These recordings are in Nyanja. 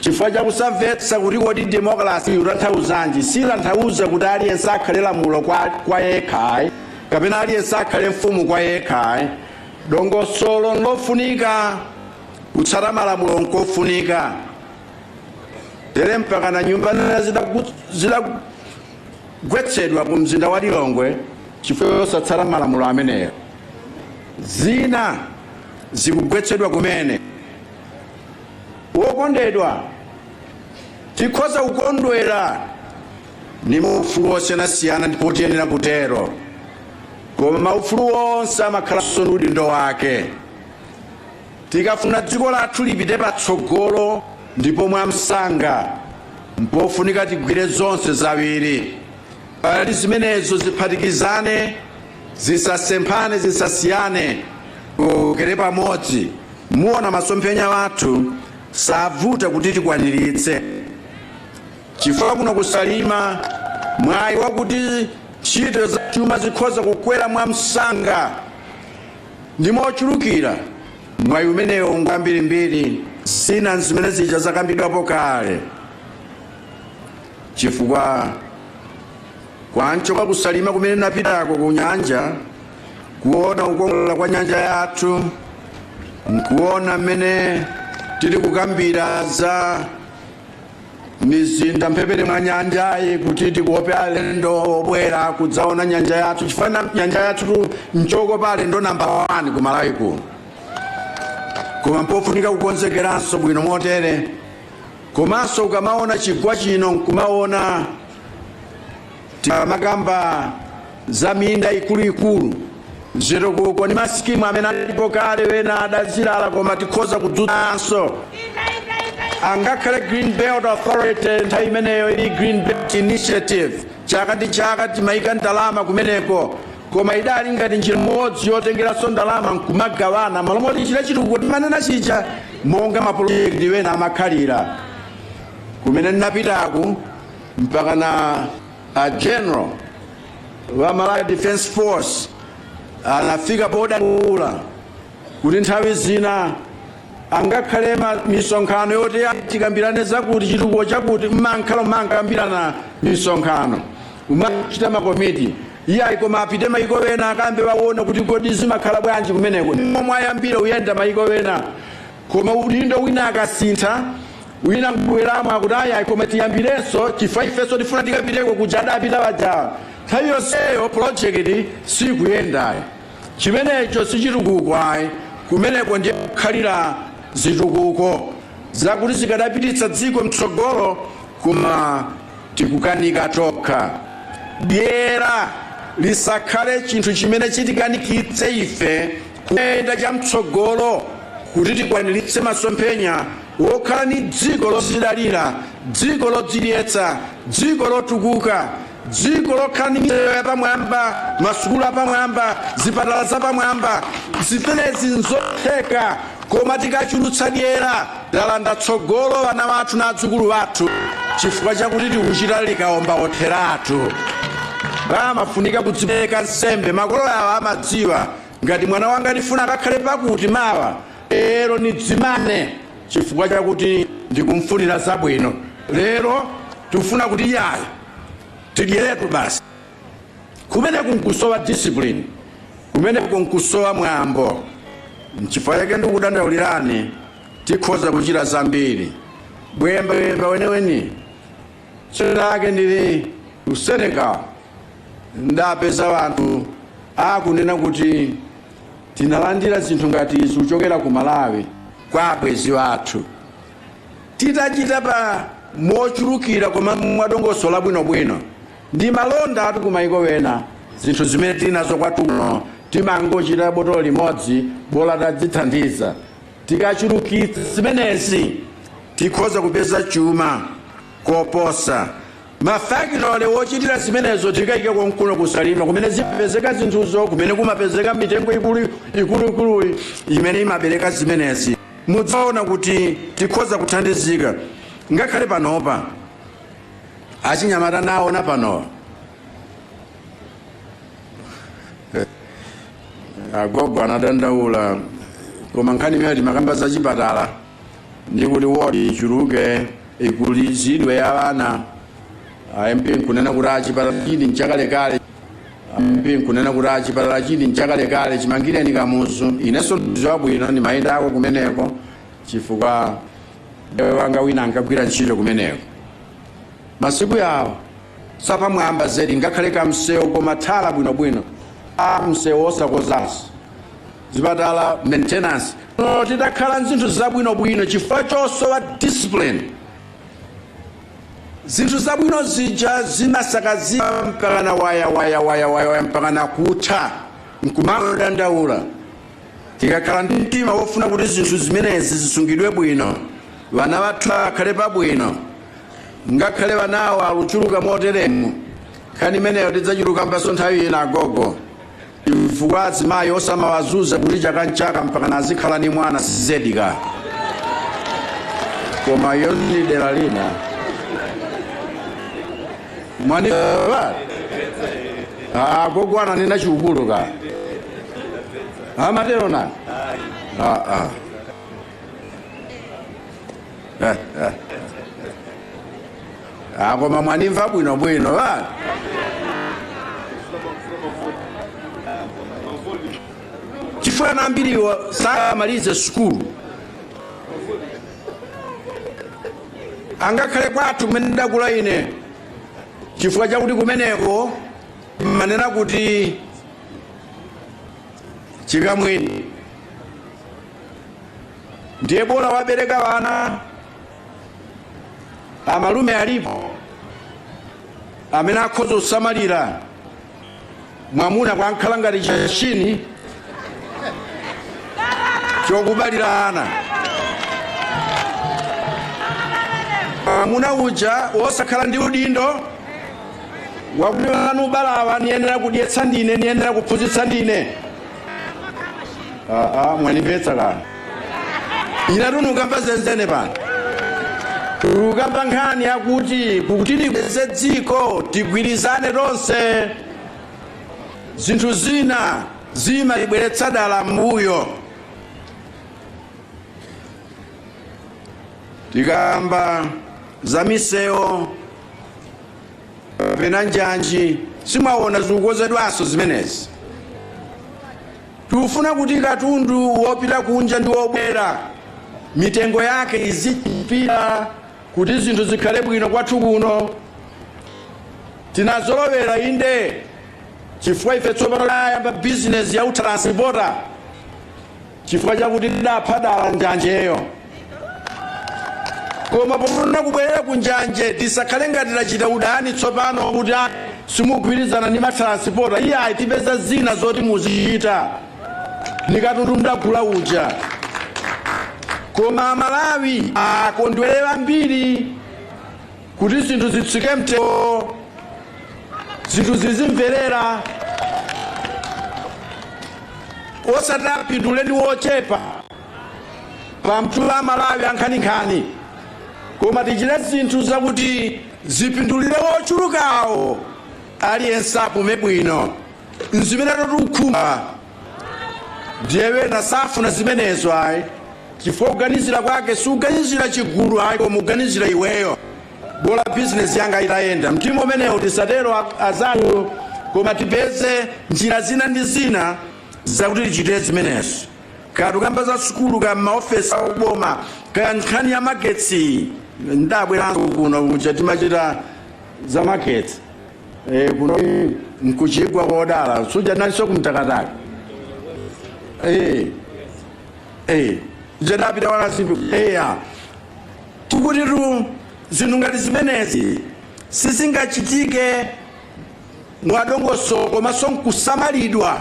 chifukwa chakusamvetsa kuti kodi demokalasi ikutanthauzanji sitanthauza kuti aliyense akhale lamulo kwa, kwa yekha ayi kapena aliyense akhale mfumu kwa yekha ayi dongosolo nlofunika kutsata malamulo nkofunika tere mpaka na nyumba zina zidagwetsedwa ku mzinda wa lilongwe chifukwa chosatsata malamulo amenewo zina zikugwetsedwa kumene Wokondedwa, tikhoza kukondwera ndi maufulu osiyanasiyana ndipo tiyenera kutero, koma maufulu onse amakhalanso ndi udindo wake. Tikafuna dziko lathu lipite patsogolo ndipo mwamsanga, mpofunika tigwire zonse ziwiri kuti zimenezo ziphatikizane, zisasemphane, zisasiyane, tikokere pamodzi. Muone masomphenya athu sovuta kuti tikwaniritse chifukwa muno ku Salima mwayi wakuti ntchito za chuma zikhoza kukwera mwamsanga ndi mochulukira mwayi umenewo ngwambirimbiri zina nzimene zija zakambidwapo kale chifukwa kwa mchokwa ku Salima kumene ndinapitako ku nyanja kuona kukongolera kwa nyanja yathu nkuona mmene tili kukambira za mizinda mphepete mwa nyanjayi kuti tikope alendo obwera kudzaona nyanja yathu chifukwa nyanja yathu nchokopa alendo namba 1 ku malawi kuno koma mpofunika kukonzekeranso bwino motere komanso ukamaona chigwa chino nkumaona Tikamakamba za minda ikuluikulu, zitukuko ndi masikimu amene alipo kale ena adazilala koma tikhoza kuwadzutsanso. Angakhale Green Belt Authority nthawi imeneyo ili Green Belt Initiative, chaka ndi chaka timayika ndalama kumeneko koma idali ngati njira imodzi yotengeranso ndalama nkumagawana malo moti tichite chitukuko timanena chija monga mapolojekiti ena amakhalira kumene ndinapitako mpakana a general wa Malawi Defense Force anafika podandaula kuti nthawi zina angakhale ma- misonkhano yoti tikambirane zakuti chitukuko chakuti mmakhala mumakambirana misonkhano umachita makomiti iyayi koma apite mayiko ena akambe akaone kuti kodi zimakhala bwanji kumeneko momwe ayambire uyenda mayiko ena Koma udindo wina akasintha, wina nkubweramo akuti ayi ayi koma tiyambirenso chifukwa ifenso tifuna tikapiteko kuja adapita ajawa. Nthawi yonseyo project sikuyenda ayi. Chimenecho si chitukuko ayi, kumeneko ndiye kukhalira zitukuko zakuti zikadapititsa dziko mtsogolo koma tikukanika tokha. Dyera lisakhale chinthu chimene chitikanikitse ife kuyenda chamtsogolo kuti tikwaniritse masomphenya wokhala ni dziko lozidalira, dziko lodzidyetsa, dziko lotukuka, dziko lokhala ni misewu yapamwamba, masukulu apamwamba, zipatala zapamwamba. Zimenezi nzotheka koma tikachulutsa dyera. Talanda tsogolo ana wathu na adzukulu wathu chifukwa chakuti tikuchita likaomba otheratu. Pamafunika kudzipereka nsembe. Makolo yawo amadziwa ngati mwana wanga nifuna akakhale pakuti mawa, lero nidzimane chifukwa chakuti ndikumfunira zabwino. Lero tikufuna kuti yayi, tidyeretu basi. kumeneko nkusowa discipline kumeneko nkusowa mwambo nchifukwa chake ndikudandaulirani tikhoza kuchita zambiri bwemba bwemba weniweni tsiku lake ndili ku senegal ndapeza wanthu akunena kuti tinalandira zinthu ngati izi kuchokera ku malawi kwa abwenzi wathu titachita pa mochulukira koma mwadongosolo labwinobwino ndi malondatu kumaiko ena zinthu zimene tili nazo kwathuno timangochita botolo limodzi bola tadzithandiza tikachulukitsa zimenezi tikhoza kupeza chuma koposa mafakitole wochitira zimenezo tikaika konkuno ku salima kumene zimapezeka zinthuzo kumene kumapezeka mitengo ikuluikuluyi imene imabereka zimenezi mudzaona kuti tikhoza kuthandizika ngakhale panopa achinyamata naona panowa agogo anadandaula koma nkhani imene timakamba za chipatala ndi kuti wodi ichuluke ikulizidwe ya ana a mp nkunena kuti a chipatala chili nchakalekale chimangireni kamuzu inenso ndidziwa bwino ndimayendako kumeneko chifukwa mbale wanga wina ankagwira ntchito kumeneko masiku yawo zapamwamba zedi ngakhale kamsewu koma thala bwinobwino a msewu osakonzanso zipatala maintenance no tidakhala nzinthu zabwinobwino chifukwa chosowa discipline zinthu zabwino zija zimasakazika mpakana waya waya waya waya waya mpakana kutha nkumangodandaula Tikakhala ndi mtima wofuna kuti zinthu zimenezi zisungidwe bwino, vana vathu akhale pabwino, ngakhale vanawo aluchuluka moteremu, nkhani imeneyo tidzachilukambanso nthawi ina agogo, chifukwa azimayi osamawazuza kuti chaka nchaka mpakana azikhala ni mwana si zedi ka. Koma iyo ni dera lina. mwani ba ah gogo ananena chiukulu ka amatero nani ah ah Eh, eh. Ah, koma mwanimva bwino bwino ba chifukwa ana ambiriwo samalize sukulu ngakhale kwathu kumene ndidakula ine chifukwa chakuti kumeneko mmanena kuti chikamwini ndiye bola wabereka wana amalume alipo amene akhoza kusamalira mwamuna kungokhala ngati chimashini chokubalira ana mwamuna uja wosakhala ndi udindo wakuti ana nubalawa niyenera kudyetsa ndine niyenera kuphunzitsa ndine aa mwanimvetsa kana inetu nukamba zenzene pano ukamba nkhani yakuti kuti tikweze dziko tigwirizane tonse zinthu zina zimatibweretsa dala mbuyo tikamba za misewu kapena njanji simwaona zikukonzedwanso zimenezi Tikufuna kuti katundu wopita kunja ndi wobwera mitengo yake izichepira kuti zinthu zikhale bwino kwathu kuno. Tinazolowera inde chifukwa ife tsopano tayamba bizinesi ya utranspota chifukwa chakuti tidapha dala njanjeyo. koma pofuna kubwerera ku njanji tisakhale ngati tachita udani tsopano kuti a simugwirizana ndi matiransipota iyayi tipeza zina zoti muzichita ndi katundu mdagula uja koma amalawi akondwere ambiri kuti zinthu zitsike mtengo zinthu zizimverera osati apindule ndi wochepa pomtula Amalawi ankhaninkhani koma tichite zinthu zakuti zipindulire wochulukawo aliyense apume bwino nzimene tikukhumba ndiye wena safuna zimenezo ayi chifukwa kuganizira kwake sikuganizira chigulu ayi koma kuganizira iweyo bola bizinesi yanga itayenda mtima umenewo tisatero anzanga koma tipeze njira zina ndi zina zakuti tichite zimenezo kaya tukamba za sukulu kaya m'maofesi a uboma kaya nkhani ya magetsi ndabweranso kuno kuja timachita za magetsi e, kuno nkuchigwa kodala suja nalinso kumtakataka e, e, jedapita wakasimbi eya tikutitu zinthu ngati zimenezi sizingachitike mwadongosolo komanso nkusamalidwa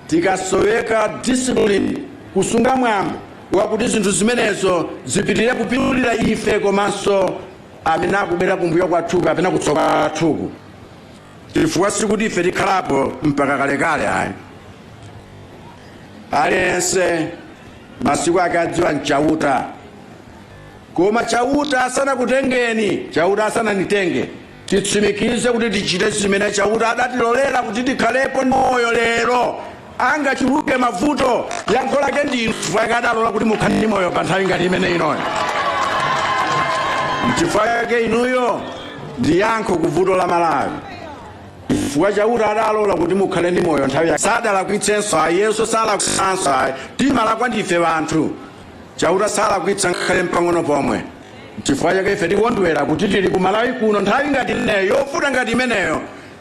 Tikasoweka discipline, kusunga mwambo wakuti zinthu zimenezo zipitilire kupindulira ife komanso amene akubwera kumbuyo kwathuku kapena kutsogolo kwathuku, chifukwa sikuti ife tikhalapo mpaka kalekale ayi. Aliyense masiku ake adziwa n'Chauta, koma Chauta asanakutengeni, Chauta asananditenge, Titsimikize kuti tichite zimene Chauta adatilolera kuti tikhalepo ndi moyo lero. Angachuluke mavuto, yankho lake ndi Inu chifukwa chake adalola kuti mukhale ndi moyo pa nthawi ngati imene inoyo. Nchifukwa chake inuyo ndi yankho ku vuto la Malawi. chifukwa chauta adalola kuti mukhale ndi moyo nthawi yake sadalakwitsenso ayi Yesu sadalakwitsenso ayi timalakwa ndife anthu chauta salakwitsa ngakhale mpang'ono pomwe Nchifukwa chake ife tikondwera kuti tili ku Malawi kuno nthawi ngati imeneyo, yovuta ngati imeneyo,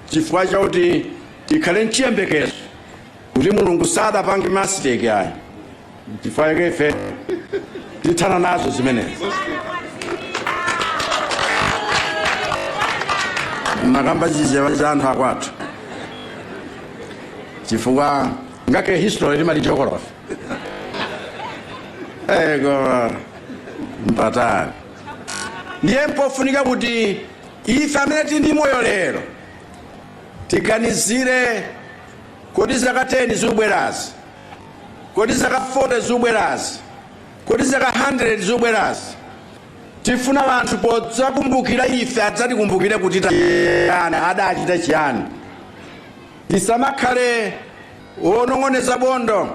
chifukwa chakuti tikhale nchiyembekezo kuti Mulungu sadapange mistake ayi. Nchifukwa chake ife tithana nazo zimenezi. Makamba chifukwa cha anthu akwathu chifukwa ngake history timadziwa geography Eh, koma mpatani ndiye mpofunika kuti ife amene tili ndi moyo lero tiganizire kodi ziraka 10 zikubwerazi kodi ziraka 40 zikubwerazi kodi ziraka 100 zikubwerazi tifuna wanthu podzakumbukira ife adzatikumbukire kuti tayani adachita chiyani tisamakhale Onong'oneza bondo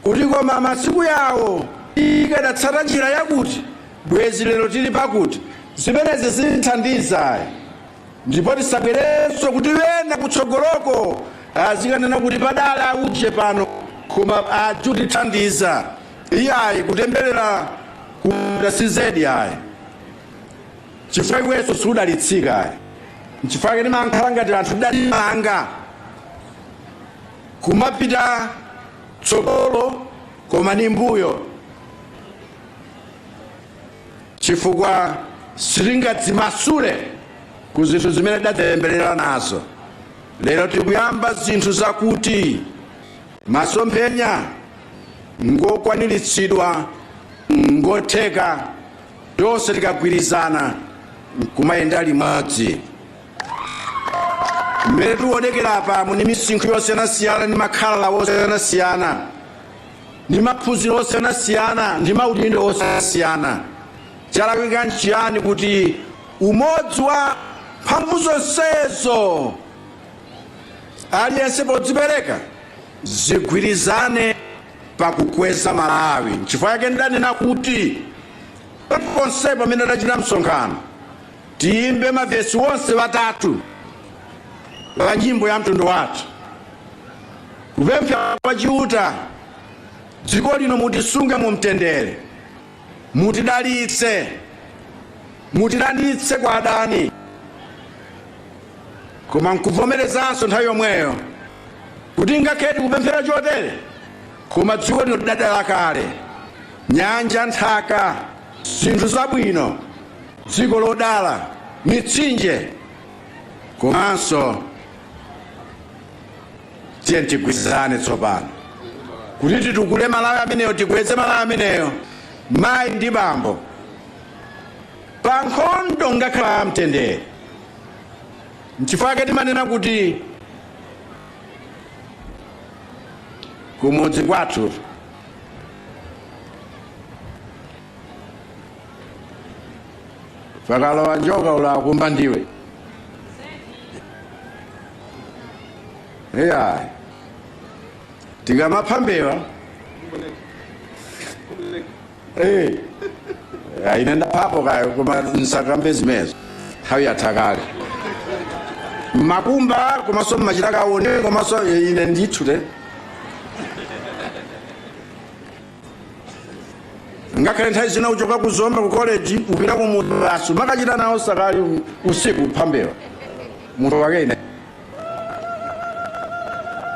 kuti, Koma masiku yawo ikadatsata njira yakuti, bwezi lero tili pakuti. Zimenezi sizithandiza ayi. Ndipo tisabwerenso kuti ena kutsogoloko azikanena kuti padali auje pano koma sakutithandiza. Iyayi, kutemberera kuda si zedi ayi, chifukwa iwenso sudalitsika ayi. Nchifukwa chake timankhala ngati anthu tidadzimanga. Nkumapita tsogolo koma ndi mbuyo chifukwa sitingadzimasule ku zinthu zimene tidadzitemberera nazo lero tikuyamba zinthu zakuti masomphenya ngokwaniritsidwa ngotheka tonse tikagwirizana nkumayenda limodzi mmene tikuonekera apamu ndi misinkhu yosiyanasiyana ndi makhalidwe osiyanasiyana ndi maphunziro osiyanasiyana ndi maudindo osiyanasiyana chalakwika nchiyani kuti umodzi wa mphamvu zonsezo aliyense podzipereka zigwirizane pakukweza malawi nchifukwa chake ndidanena kuti ponse pamene tachita msonkhano Tiyimbe mavesi wonse watatu wa nyimbo ya mtundu wathu kupemphera kwa Chiuta dziko lino mutisunge mu mtendere, mutidalitse, mutilanditse kwa adani, koma nkuvomerezanso nthawi yomweyo kuti ngakhale tikupemphera chotere koma dziko lino tidadala kale, nyanja, nthaka, zinthu zabwino dziko lodala mitsinje komanso tiyeni tigwirizane tsopano kuti titukule malawi ameneyo tikweze malawi ameneyo mayi ndi bambo pa nkhondo ngakhala amtendere nchifukwa chake timanena kuti kumudzi kwathu pakalowa njoka ulikumba ndiwe eya tikamapha mbewa Eh. Ah, ine ndaphapo kayo koma nsakambe zimezo nthawi yatha kale mmakumba komanso mmachita kaone komanso ine ndithu te ngakhale nthawi zina kuchoka ku zomba ku college kupita ku mudzi basi umakachita nawo sakali usiku phambewa munthu wake ine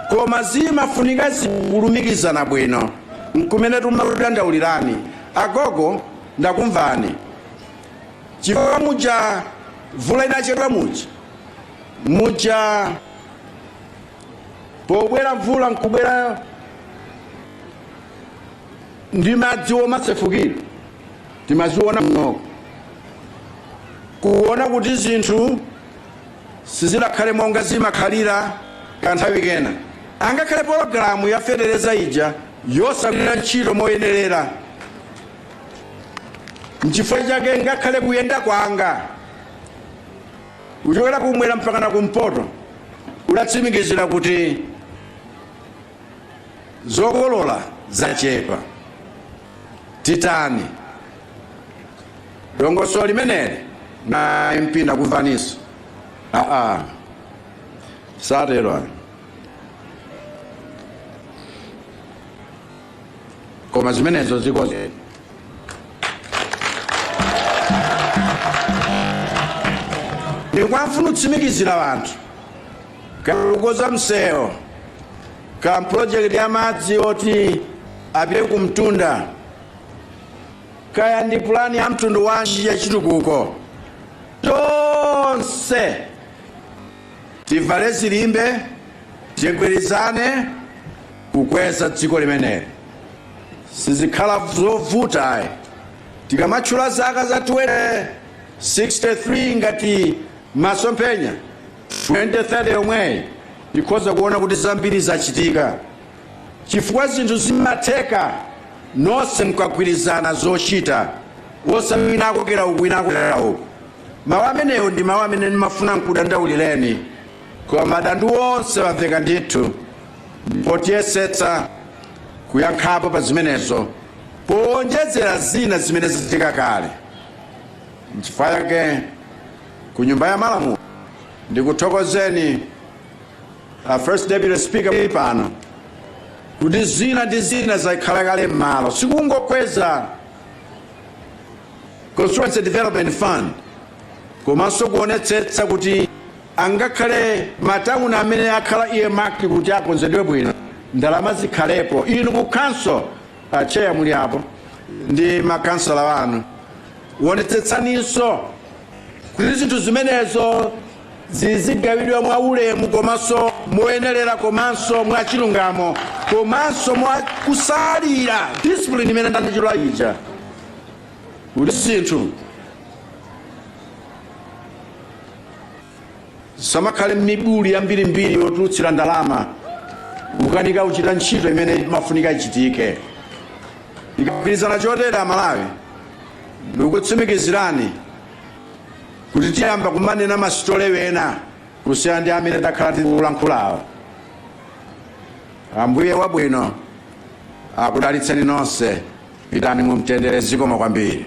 koma zimafunika zikulumikizana bwino nkumene timakudandaulirani agogo ndakumvani chifukwa muja mvula idachedwa muja muja pobwera mvula nkubwera ndi madzi omasefukira timaziona monoko kuona kuti zinthu sizidakhale monga zimakhalira kanthawi kena angakhale pologalamu ya fetereza ija yosagwira ntchito moyenerera nchifukwa chake ngakhale kuyenda kwanga kuchokera kumwera mpaka na kumpoto kudatsimikizira kuti zokolola zachepa titani dongosolo limeneli na mp ndakumvaninso aa satero ayi koma zimenezo zikoze ndikufuna kutsimikizira anthu Kaya kukonza msewu kaya project ya madzi oti apite ku mtunda kaya ndi pulani ya mtundu wanji ya chitukuko tonse tivale zilimbe tigwirizane kukweza dziko limeneli sizikhala zovuta ayi tikamatchula zaka za 2063 ngati masomphenya 2030 yomweyi tikhoza kuona kuti zambiri zachitika chifukwa zinthu zimatheka nonse mukagwirizana zochita osati wina akokera uku wina akokera uku mawu amenewo ndi mawu amene ndimafuna nkudandaulireni koma madandaulo onse amveka ndithu ndipo tiyesetsa kuyankhapo pa zimenezo powonjezera zina zimene zachitika kale nchifukwa chake ku nyumba ya malamulo ndikuthokozeni a first deputy speaker muli pano kuti zina ndi zina zakhala kale m'malo sikungokweza constituency development fund komanso kuonetsetsa kuti angakhale matawuni amene akhala earmarked kuti akonzedwe bwino ndalama zikhalepo inu ku council acheya muli apo ndi makhansala anu wonetsetsaninso kuti zinthu zimenezo zizigawidwa mwa ulemu komanso moyenerera komanso mwa chilungamo komanso mwa kutsatira discipline imene ndinatchula ija kuti zinthu zisamakhale mibuli yambirimbiri yotulutsira ndalama kukanika kuchita ntchito imene imafunika ichitike Tikagwirizana chotere Amalawi, ndikukutsimikizirani kuti tiyamba kumanena ma story ena kusiyana ndi amene takhala tikuyankhulawo. Ambuye wabwino akudalitseni nonse. Pitani mu mtendere, zikomo kwambiri.